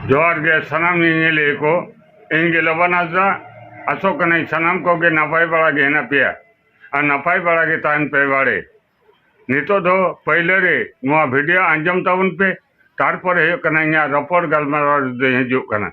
ᱡᱚᱦᱟᱨ ᱜᱮ ᱥᱟᱱᱟᱢ ᱧᱮᱧᱮᱞᱤᱭᱟᱹ ᱠᱚ ᱤᱧ ᱜᱮ ᱞᱚᱵᱟᱱ ᱦᱟᱸᱥᱫᱟ ᱟᱥᱚᱜ ᱠᱟᱹᱱᱟᱹᱧ ᱥᱟᱱᱟᱢ ᱠᱚᱜᱮ ᱱᱟᱯᱟᱭ ᱵᱟᱲᱟ ᱜᱮ ᱦᱮᱱᱟᱜ ᱯᱮᱭᱟ ᱟᱨ ᱱᱟᱯᱟᱭ ᱵᱟᱲᱟ ᱜᱮ ᱛᱟᱦᱮᱱ ᱯᱮ ᱵᱟᱲᱮ ᱱᱤᱛᱚᱜ ᱫᱚ ᱯᱟᱹᱭᱞᱟᱹ ᱨᱮ ᱱᱚᱣᱟ ᱵᱷᱤᱰᱤᱭᱳ ᱟᱸᱡᱚᱢ ᱛᱟᱵᱚᱱ ᱯᱮ ᱛᱟᱨᱯᱚᱨᱮ ᱦᱩᱭᱩᱜ ᱠᱟᱱᱟ ᱤᱧᱟᱹᱜ ᱨᱚᱯᱚᱲ ᱜᱟᱞᱢᱟᱨᱟᱣ ᱨᱮᱫᱚᱧ ᱦᱤᱡᱩᱜ ᱠᱟᱱᱟ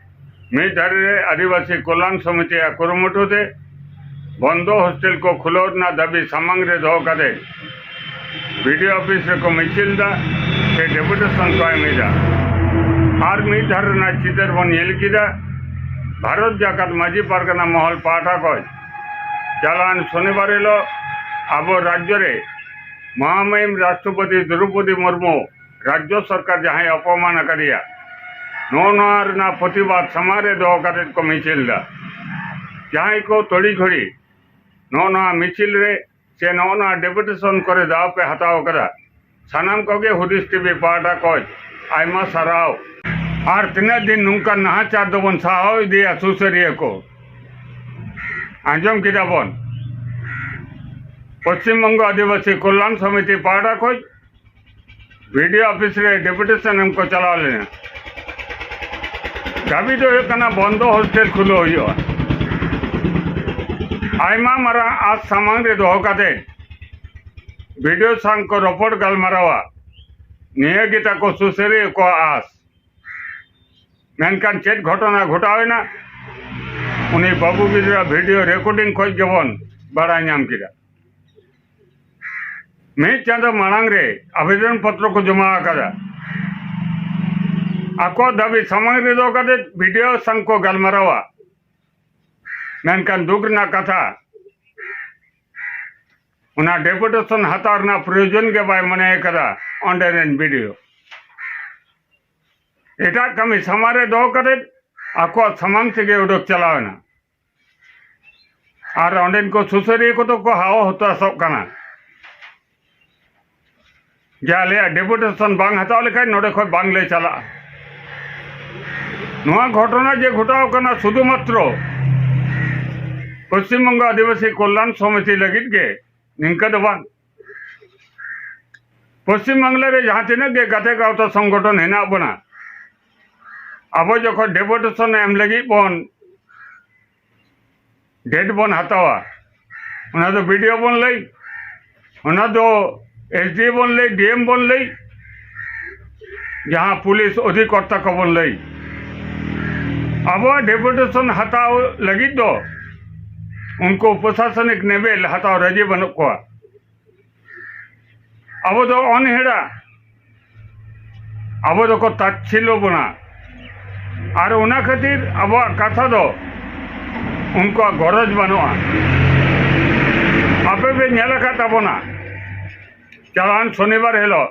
ᱢᱤᱫ ᱫᱷᱟᱨᱮ ᱨᱮ ᱟᱹᱫᱤᱵᱟᱹᱥᱤ ᱠᱚᱞᱟᱱ ᱥᱚᱢᱤᱛᱤᱭᱟᱜ ᱠᱩᱨᱩᱢᱩᱴᱩ ᱛᱮ ᱵᱚᱱᱫᱚ ᱦᱳᱥᱴᱮᱞ ᱠᱚ ᱠᱷᱩᱞᱟᱹᱣ ᱨᱮᱱᱟᱜ ᱫᱟᱹᱵᱤ ᱥᱟᱢᱟᱝ ᱨᱮ ᱫᱚᱦᱚ ᱠᱟᱛᱮ ᱵᱤᱰᱤ ᱚᱯᱷᱤᱥ ᱨᱮᱠᱚ ᱢᱤᱪᱷᱤᱞ ᱮᱫᱟ ᱥᱮ ᱰᱮᱯᱩᱴᱮᱥᱚᱱ ᱠᱚ ᱮᱢ ᱮᱫᱟ ᱟᱨ ᱢᱤᱫ ᱫᱷᱟᱨᱮ ᱨᱮᱱᱟᱜ ᱪᱤᱛᱟᱹᱨ ᱵᱚᱱ ᱧᱮᱞ ᱠᱮᱫᱟ ᱵᱷᱟᱨᱚᱛ ᱡᱟᱠᱟᱛ ᱢᱟᱹᱡᱷᱤ ᱯᱟᱨᱜᱟᱱᱟ ᱢᱚᱦᱚᱞ ᱯᱟᱦᱴᱟ ᱠᱷᱚᱱ ᱪᱟᱞᱟᱣᱮᱱ ᱥᱚᱱᱤᱵᱟᱨ ᱦᱤᱞᱳᱜ ᱟᱵᱚ ᱨᱟᱡᱽᱡᱚ ᱨᱮ ᱢᱚᱦᱟᱢᱟᱹᱭᱤᱢ ᱨᱟᱥᱴᱨᱚᱯᱚᱛᱤ ᱫᱨᱳᱣᱯᱚᱫᱤ ᱢᱩᱨᱢᱩ ᱨᱟᱡᱽᱡᱚ ᱥᱚᱨᱠᱟᱨ ᱡᱟᱦᱟᱸᱭ ᱚᱯᱚᱢᱟᱱ ᱟᱠᱟᱫᱮᱭᱟ ᱱᱚᱜᱼᱚ ᱱᱚᱣᱟ ᱨᱮᱱᱟᱜ ᱯᱨᱚᱛᱤᱵᱟᱫ ᱥᱟᱢᱟᱝ ᱨᱮ ᱫᱚᱦᱚ ᱠᱟᱛᱮ ᱠᱚ ᱢᱤᱪᱷᱤᱞ ᱮᱫᱟ ᱡᱟᱦᱟᱸᱭ ᱠᱚ ᱛᱚᱲᱤ ᱜᱷᱚᱲᱤ ᱱᱚᱜᱼᱚ ᱱᱚᱣᱟ ᱢᱤᱪᱷᱤᱞ ᱨᱮ ᱥᱮ ᱱᱚᱜᱼᱚ ᱱᱚᱣᱟ ᱰᱮᱯᱩᱴᱮᱥᱚᱱ ᱠᱚᱨᱮ ᱫᱟᱣ ᱯᱮ ᱦᱟᱛᱟᱣ ᱟᱠᱟᱫᱟ ᱥᱟᱱᱟᱢ ᱠᱚᱜᱮ ᱦᱩᱫᱤᱥ ᱴᱤᱵᱷᱤ ᱯᱟᱦᱴᱟ ᱠᱷᱚᱱ ᱟᱭᱢᱟ ᱥᱟᱨᱦᱟᱣ ᱟᱨ ᱛᱤᱱᱟᱹᱜ ᱫᱤᱱ ᱱᱚᱝᱠᱟ ᱱᱟᱦᱟᱪᱟᱨ ᱫᱚᱵᱚᱱ ᱥᱟᱦᱟᱣ ᱤᱫᱤᱭᱟ ᱥᱩᱥᱟᱹᱨᱤᱭᱟᱹ ᱠᱚ ᱟᱸᱡᱚᱢ ᱠᱮᱫᱟ ᱵᱚᱱ ᱯᱚᱥᱪᱤᱢ ᱵᱚᱝᱜᱚ ᱟᱹᱫᱤᱵᱟᱹᱥᱤ ᱠᱚᱞᱭᱟᱱ ᱥᱚᱢᱤᱛᱤ ᱯᱟᱦᱴᱟ ᱠᱷᱚᱱ ᱵᱤᱰᱤ ᱚᱯᱷᱤᱥ ᱨᱮ ᱰᱮᱯᱩᱴᱮᱥᱚᱱ ᱮᱢ ᱠᱚ ᱪᱟᱞᱟᱣ ᱞᱮᱱᱟ ᱫᱟᱹᱵᱤ ᱫᱚ ᱦᱩᱭᱩᱜ ᱠᱟᱱᱟ ᱵᱚᱱᱫᱚ ᱦᱳᱥᱴᱮᱞ ᱠᱷᱩᱞᱟᱹᱣ ᱦᱩᱭᱩᱜᱼᱟ ᱟᱭᱢᱟ ᱢᱟᱨᱟᱝ ᱟᱥ ᱥᱟᱢᱟᱝ ᱨᱮ ᱫᱚᱦᱚ ᱠᱟᱛᱮ ᱵᱤᱰᱤᱳ ᱥᱟᱝ ᱠᱚ ᱨᱚᱯᱚᱲ ᱜᱟᱞᱢᱟᱨᱟᱣᱟ ᱱᱤᱭᱟᱹ ᱜᱮ ᱛᱟᱠᱚ ᱥᱩᱥᱟᱹᱨᱤᱭᱟᱹ ᱠᱚᱣᱟᱜ ᱟᱥ ᱢᱮᱱᱠᱷᱟᱱ ᱪᱮᱫ ᱜᱷᱚᱴᱚᱱᱟ ᱜᱷᱚᱴᱟᱣᱮᱱᱟ ᱩᱱᱤ ᱵᱟᱹᱵᱩ ᱜᱤᱫᱽᱨᱟᱹ ᱵᱷᱤᱰᱤᱭᱳ ᱨᱮᱠᱚᱨᱰᱤᱝ ᱠᱷᱚᱱ ᱜᱮᱵᱚᱱ ᱵᱟᱲᱟᱭ ᱧᱟᱢ ᱠᱮᱫᱟ ᱢᱤᱫ ᱪᱟᱸᱫᱚ ᱢᱟᱲᱟᱝ ᱨᱮ ᱟᱵᱮᱫᱚᱱ ᱯᱚᱛᱨᱚ ᱠᱚ ᱡᱚᱢᱟ ᱟᱠᱟᱫᱟ ᱟᱠᱚ ᱫᱟᱹᱵᱤ ᱥᱟᱢᱟᱝ ᱨᱮ ᱫᱚᱦᱚ ᱠᱟᱛᱮ ᱵᱤᱰᱤᱳ ᱥᱟᱝ ᱠᱚ ᱜᱟᱞᱢᱟᱨᱟᱣᱟ ᱢᱮᱱᱠᱷᱟᱱ ᱫᱩᱠ ᱨᱮᱱᱟᱜ ᱠᱟᱛᱷᱟ ᱚᱱᱟ ᱰᱮᱯᱩᱴᱮᱥᱚᱱ ᱦᱟᱛᱟᱣ ᱨᱮᱱᱟᱜ ᱯᱨᱚᱭᱳᱡᱚᱱ ᱜᱮ ᱵᱟᱭ ᱢᱚᱱᱮ ᱟᱠᱟᱫᱟ ᱚᱸᱰᱮ ᱨᱮᱱ ᱵᱤᱰᱤᱳ ᱮᱴᱟᱜ ᱠᱟᱹᱢᱤ ᱥᱟᱢᱟᱝ ᱨᱮ ᱫᱚᱦᱚ ᱠᱟᱛᱮ ᱟᱠᱚᱣᱟᱜ ᱥᱟᱢᱟᱝ ᱛᱮᱜᱮ ᱩᱰᱩᱠ ᱪᱟᱞᱟᱣᱮᱱᱟ ᱟᱨ ᱚᱸᱰᱮᱱ ᱠᱚ ᱥᱩᱥᱟᱹᱨᱤᱭᱟᱹ ᱠᱚᱫᱚ ᱠᱚ ᱦᱟᱣ ᱦᱚᱛᱟᱥᱚᱜ ᱠᱟᱱᱟ ᱡᱮ ᱟᱞᱮᱭᱟᱜ ᱰᱮᱯᱩᱴᱮᱥᱚᱱ ᱵᱟᱝ ᱦᱟᱛᱟᱣ ᱞᱮᱠᱷᱟᱱ ᱱᱚᱰᱮ ᱠᱷᱚᱱ ᱵᱟᱝᱞᱮ ᱪᱟᱞᱟᱜᱼᱟ ᱱᱚᱣᱟ ᱜᱷᱚᱴᱚᱱᱟ ᱡᱮ ᱜᱷᱚᱴᱟᱣ ᱠᱟᱱᱟ ᱥᱩᱫᱷᱩ ᱢᱟᱛᱨᱚ ᱯᱚᱥᱪᱤᱢ ᱵᱚᱝᱜᱚ ᱟᱹᱫᱤᱵᱟᱹᱥᱤ ᱠᱚᱞᱭᱟᱱ ᱥᱚᱢᱤᱛᱤ ᱞᱟᱹᱜᱤᱫ ᱜᱮ ᱱᱤᱝᱠᱟᱹ ᱫᱚ ᱵᱟᱝ ᱯᱚᱥᱪᱤᱢ ᱵᱟᱝᱞᱟ ᱨᱮ ᱡᱟᱦᱟᱸ ᱛᱤᱱᱟᱹᱜ ᱜᱮ ᱜᱟᱛᱮ ᱜᱟᱶᱛᱟ ᱥᱚᱝᱜᱚᱴᱷᱚᱱ ᱦᱮᱱᱟᱜ ᱵᱚᱱᱟ ᱟᱵᱚ ᱡᱚᱠᱷᱚᱱ ᱰᱮᱯᱩᱴᱮᱥᱚᱱ ᱮᱢ ᱞᱟᱹᱜᱤᱫ ᱵᱚᱱ ᱰᱮᱴ ᱵᱚᱱ ᱦᱟᱛᱟᱣᱟ ᱚᱱᱟ ᱫᱚ ᱵᱤᱰᱤᱭᱳ ᱵᱚᱱ ᱞᱟᱹᱭ ᱚᱱᱟ ᱫᱚ ᱮᱥ ᱰᱤ ᱵᱚᱱ ᱞᱟᱹᱭ ᱰᱤ ᱮᱢ ᱵᱚᱱ ᱞᱟᱹᱭ ᱡᱟᱦᱟᱸ ᱯᱩᱞᱤᱥ ᱚᱫᱷᱤᱠᱚᱨᱛᱟ ᱠᱚᱵᱚᱱ ᱞᱟᱹᱭ ᱟᱵᱚᱣᱟᱜ ᱰᱮᱯᱩᱴᱮᱥᱚᱱ ᱦᱟᱛᱟᱣ ᱞᱟᱹᱜᱤᱫ ᱫᱚ ᱩᱱᱠᱩ ᱯᱨᱚᱥᱟᱥᱚᱱᱤᱠ ᱱᱮᱵᱮᱞ ᱦᱟᱛᱟᱣ ᱨᱟᱹᱡᱤ ᱵᱟᱹᱱᱩᱜ ᱠᱚᱣᱟ ᱟᱵᱚ ᱫᱚ ᱚᱱᱦᱮᱲᱟ ᱟᱵᱚ ᱫᱚᱠᱚ ᱛᱟᱪᱷᱤᱞᱚ ᱵᱚᱱᱟ ᱟᱨ ᱚᱱᱟ ᱠᱷᱟᱹᱛᱤᱨ ᱟᱵᱚᱣᱟᱜ ᱠᱟᱛᱷᱟ ᱫᱚ ᱩᱱᱠᱩᱣᱟᱜ ᱜᱚᱨᱚᱡᱽ ᱵᱟᱹᱱᱩᱜᱼᱟ ᱟᱯᱮ ᱯᱮ ᱧᱮᱞ ᱟᱠᱟᱫ ᱛᱟᱵᱚᱱᱟ ᱪᱟᱞᱟᱣᱮᱱ ᱥᱚᱱᱤᱵᱟᱨ ᱦᱤᱞᱳᱜ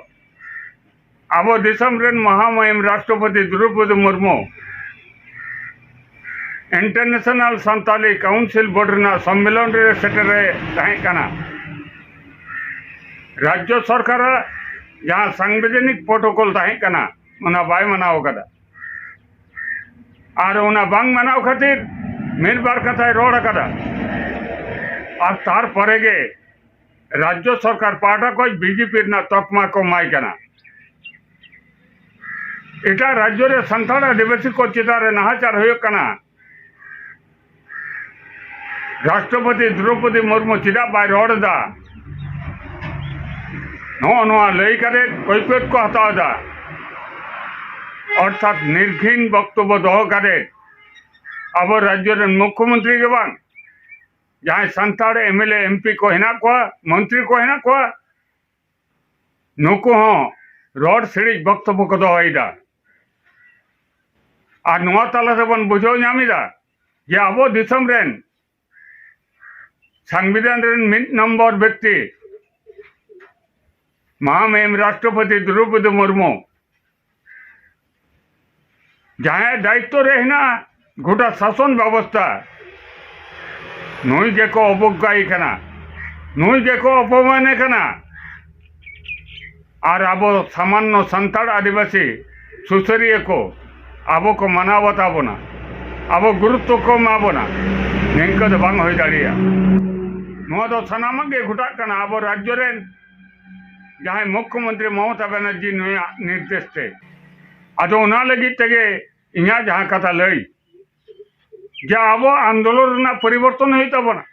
ᱟᱵᱚ ᱫᱤᱥᱚᱢ ᱨᱮᱱ ᱢᱚᱦᱟᱢᱟᱭᱤᱢ ᱨᱟᱥᱴᱨᱚᱯᱚᱛᱤ Draupadi Murmu international Santali council board ᱨᱮᱱᱟᱜ ᱥᱚᱢᱢᱮᱞᱚᱱ ᱨᱮ ᱥᱮᱴᱮᱨᱮ ᱛᱟᱦᱮᱸ ᱠᱟᱱᱟ ᱨᱟᱡᱽᱡᱚ ᱥᱚᱨᱠᱟᱨᱟᱜ ᱡᱟᱦᱟᱸ ᱥᱟᱝᱵᱤᱫᱷᱟᱱᱤᱠ ᱯᱨᱳᱴᱳᱠᱚᱞ ᱛᱟᱦᱮᱸ ᱠᱟᱱᱟ ᱚᱱᱟ ᱵᱟᱭ ᱢᱟᱱᱟᱣ ᱟᱠᱟᱫᱟ ᱟᱨ ᱚᱱᱟ ᱵᱟᱝ ᱢᱟᱱᱟᱣ ᱠᱷᱟᱹᱛᱤᱨ ᱢᱤᱫ ᱵᱟᱨ ᱠᱟᱛᱷᱟᱭ ᱨᱚᱲ ᱟᱠᱟᱫᱟ ᱟᱨ ᱛᱟᱨᱯᱚᱨᱮ ᱜᱮ ᱨᱟᱡᱽᱡᱚ ᱥᱚᱨᱠᱟᱨ ᱯᱟᱦᱴᱟ ᱠᱷᱚᱱ ᱵᱤᱡᱮᱯᱤ ᱨᱮᱱᱟᱜ ᱛᱚᱠᱢᱟ ᱠᱚ ᱮᱢᱟᱭ ᱠᱟᱱᱟ ᱮᱴᱟᱜ ᱨᱟᱡᱽᱡᱚ ᱨᱮ ᱥᱟᱱᱛᱟᱲ ᱟᱹᱫᱤᱵᱟᱹᱥᱤ ᱠᱚ ᱪᱮᱛᱟᱱ ᱨᱮ ᱱᱟᱦᱟᱪᱟᱨ ᱦᱩᱭᱩᱜ ᱠᱟᱱᱟ ᱨᱟᱥᱴᱨᱚᱯᱚᱛᱤ ᱫᱨᱚᱯᱚᱫᱤ ᱢᱩᱨᱢᱩ ᱪᱮᱫᱟᱜ ᱵᱟᱭ ᱨᱚᱲ ᱮᱫᱟ ᱱᱚᱜᱼᱚ ᱱᱚᱣᱟ ᱞᱟᱹᱭ ᱠᱟᱛᱮ ᱠᱟᱹᱭᱯᱟᱹᱛ ᱠᱚ ᱦᱟᱛᱟᱣ ᱮᱫᱟ ᱚᱨᱛᱷᱟᱛ ᱱᱤᱨᱜᱷᱤᱱ ᱵᱚᱠᱛᱚᱵᱽᱵᱚ ᱫᱚᱦᱚ ᱠᱟᱛᱮ ᱟᱵᱚ ᱨᱟᱡᱽᱡᱚ ᱨᱮᱱ ᱢᱩᱠᱷᱭᱚᱢᱚᱱᱛᱨᱤ ᱜᱮ ᱵᱟᱝ ᱡᱟᱦᱟᱸᱭ Santal M L A M P ᱠᱚ ᱦᱮᱱᱟᱜ ᱠᱚᱣᱟ ᱢᱚᱱᱛᱨᱤ ᱠᱚ ᱦᱮᱱᱟᱜ ᱠᱚᱣᱟ ᱱᱩᱠᱩ ᱦᱚᱸ ᱨᱚᱲ ᱥᱤᱲᱤᱡ ᱵᱚᱠᱛᱚᱵᱚ ᱠᱚ ᱫᱚᱦᱚᱭᱮᱫᱟ ᱟᱨ ᱱᱚᱣᱟ ᱛᱟᱞᱟ ᱨᱮᱵᱚᱱ ᱵᱩᱡᱷᱟᱹᱣ ᱧᱟᱢᱮᱫᱟ ᱡᱮ ᱟᱵᱚ ᱫᱤᱥᱚᱢ ᱨᱮᱱ ᱥᱟᱝᱵᱤᱫᱷᱟᱱ ᱨᱮᱱ ᱢᱤᱫ ᱱᱚᱢᱵᱚᱨ ᱵᱮᱠᱛᱤ ᱢᱟᱦᱟᱢᱮᱢ ᱨᱟᱥᱴᱨᱚᱯᱚᱛᱤ ᱫᱨᱚᱣᱯᱚᱫᱤ ᱢᱩᱨᱢᱩ ᱡᱟᱦᱟᱸᱭ ᱫᱟᱭᱤᱛᱛᱚ ᱨᱮ ᱦᱮᱱᱟᱜᱼᱟ ᱜᱚᱴᱟ ᱥᱟᱥᱚᱱ ᱵᱮᱵᱚᱥᱛᱷᱟ ᱱᱩᱭ ᱜᱮᱠᱚ ᱚᱵᱚᱜᱽᱜᱟᱭᱮ ᱠᱟᱱᱟ ᱱᱩᱭ ᱜᱮᱠᱚ ᱚᱯᱚᱢᱟᱱᱮ ᱠᱟᱱᱟ ᱟᱨ ᱟᱵᱚ ᱥᱟᱢᱟᱱᱱᱚ ᱥᱟᱱᱛᱟᱲ ᱟᱹᱫᱤᱵᱟᱹᱥᱤ ᱥᱩᱥᱟᱹᱨᱤᱭᱟᱹ ᱠᱚ ᱟᱵᱚ ᱠᱚ ᱢᱟᱱᱟᱣ ᱵᱟᱛᱟᱣ ᱵᱚᱱᱟ ᱟᱵᱚ ᱜᱩᱨᱩᱛᱛᱚ ᱠᱚ ᱮᱢᱟ ᱵᱚᱱᱟ ᱱᱤᱝᱠᱟᱹ ᱫᱚ ᱵᱟᱝ ᱦᱩᱭ ᱫᱟᱲᱮᱭᱟᱜᱼᱟ ᱱᱚᱣᱟ ᱫᱚ ᱥᱟᱱᱟᱢᱟᱜ ᱜᱮ ᱜᱷᱚᱴᱟᱜ ᱠᱟᱱᱟ ᱟᱵᱚ ᱨᱟᱡᱽᱡᱚ ᱨᱮᱱ ᱡᱟᱦᱟᱸᱭ ᱢᱩᱠᱷᱭᱚ ᱢᱚᱱᱛᱨᱤ ᱢᱚᱢᱚᱛᱟ ᱵᱟᱱᱟᱨᱡᱤ ᱱᱩᱭᱟᱜ ᱱᱤᱨᱫᱮᱥ ᱛᱮ ᱟᱫᱚ ᱚᱱᱟ ᱞᱟᱹᱜᱤᱫ ᱛᱮᱜᱮ ᱤᱧᱟᱹᱜ ᱡᱟᱦᱟᱸ ᱠᱟᱛᱷᱟ ᱞᱟᱹᱭ ᱡᱮ ᱟᱵᱚ ᱟᱱᱫᱳᱞᱚᱱ ᱨᱮᱱᱟᱜ ᱯᱚᱨᱤᱵᱚᱨᱛᱚᱱ ᱦᱩᱭᱩᱜ ᱛᱟᱵᱚᱱᱟ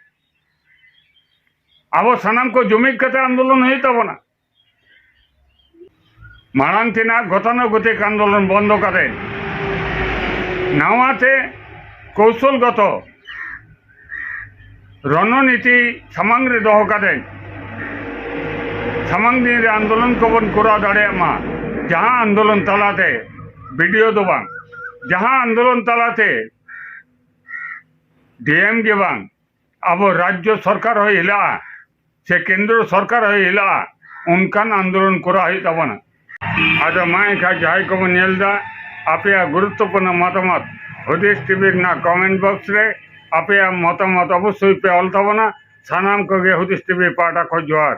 ᱟᱵᱚ ᱥᱟᱱᱟᱢ ᱠᱚ ᱡᱩᱢᱤᱫ ᱠᱟᱛᱮ ᱟᱱᱫᱳᱞᱚᱱ ᱦᱩᱭᱩᱜ ᱛᱟᱵᱚᱱᱟ ᱢᱟᱲᱟᱝ ᱛᱮᱱᱟᱜ ᱜᱚᱛᱟᱱᱩᱜᱚᱛᱤᱠ ᱟᱱᱫᱳᱞᱚᱱ ᱵᱚᱱᱫᱚ ᱠᱟᱛᱮ ᱱᱟᱣᱟ ᱛᱮ ᱠᱚᱣᱥᱚᱞᱜᱚᱛᱚ ᱨᱚᱱᱚᱱᱤᱛᱤ ᱥᱟᱢᱟᱝ ᱨᱮ ᱫᱚᱦᱚ ᱠᱟᱛᱮ ᱥᱟᱢᱟᱝ ᱫᱤᱱ ᱨᱮ ᱟᱱᱫᱳᱞᱚᱱ ᱠᱚᱵᱚᱱ ᱠᱚᱨᱟᱣ ᱫᱟᱲᱮᱭᱟᱜ ᱢᱟ ᱡᱟᱦᱟᱸ ᱟᱱᱫᱳᱞᱚᱱ ᱛᱟᱞᱟᱛᱮ ᱵᱤᱰᱤᱭᱳ ᱫᱚ ᱵᱟᱝ ᱡᱟᱦᱟᱸ ᱟᱱᱫᱳᱞᱚᱱ ᱛᱟᱞᱟᱛᱮ ᱰᱤᱮᱢ ᱜᱮ ᱵᱟᱝ ᱟᱵᱚ ᱨᱟᱡᱽᱡᱚ ᱥᱚᱨᱠᱟᱨ ᱦᱚᱸ ᱦᱤᱞᱟᱹᱜᱼᱟ ᱥᱮ ᱠᱮᱱᱫᱨᱚ ᱥᱚᱨᱠᱟᱨ ᱦᱚᱸ ᱦᱤᱞᱟᱹᱜᱼᱟ ᱚᱱᱠᱟᱱ ᱟᱱᱫᱳᱞᱚᱱ ᱠᱚᱨᱟᱣ ᱦᱩᱭᱩᱜ ᱛᱟᱵᱚᱱᱟ ᱟᱫᱚ ᱢᱟ ᱮᱱᱠᱷᱟᱱ ᱡᱟᱦᱟᱸᱭ ᱠᱚᱵᱚᱱ ᱧᱮᱞ ᱮᱫᱟ ᱟᱯᱮᱭᱟᱜ ᱜᱩᱨᱩᱛᱛᱚᱯᱩᱨᱱᱚ ᱢᱚᱛᱟᱢᱚᱛ ᱦᱩᱫᱤᱥ ᱴᱤᱵᱷᱤ ᱨᱮᱱᱟᱜ ᱠᱚᱢᱮᱱᱴ ᱵᱚᱠᱥ ᱨᱮ ᱟᱯᱮᱭᱟᱜ ᱢᱚᱛᱟᱢᱚᱛ ᱚᱵᱚᱥᱥᱳᱭ ᱯᱮ ᱚᱞ ᱛᱟᱵᱚᱱᱟ ᱥᱟᱱᱟᱢ ᱠᱚᱜᱮ ᱦᱩᱫᱤᱥ ᱴᱤᱵᱷᱤ ᱯᱟᱦᱴᱟ ᱠᱷᱚᱱ ᱡᱚᱦᱟᱨ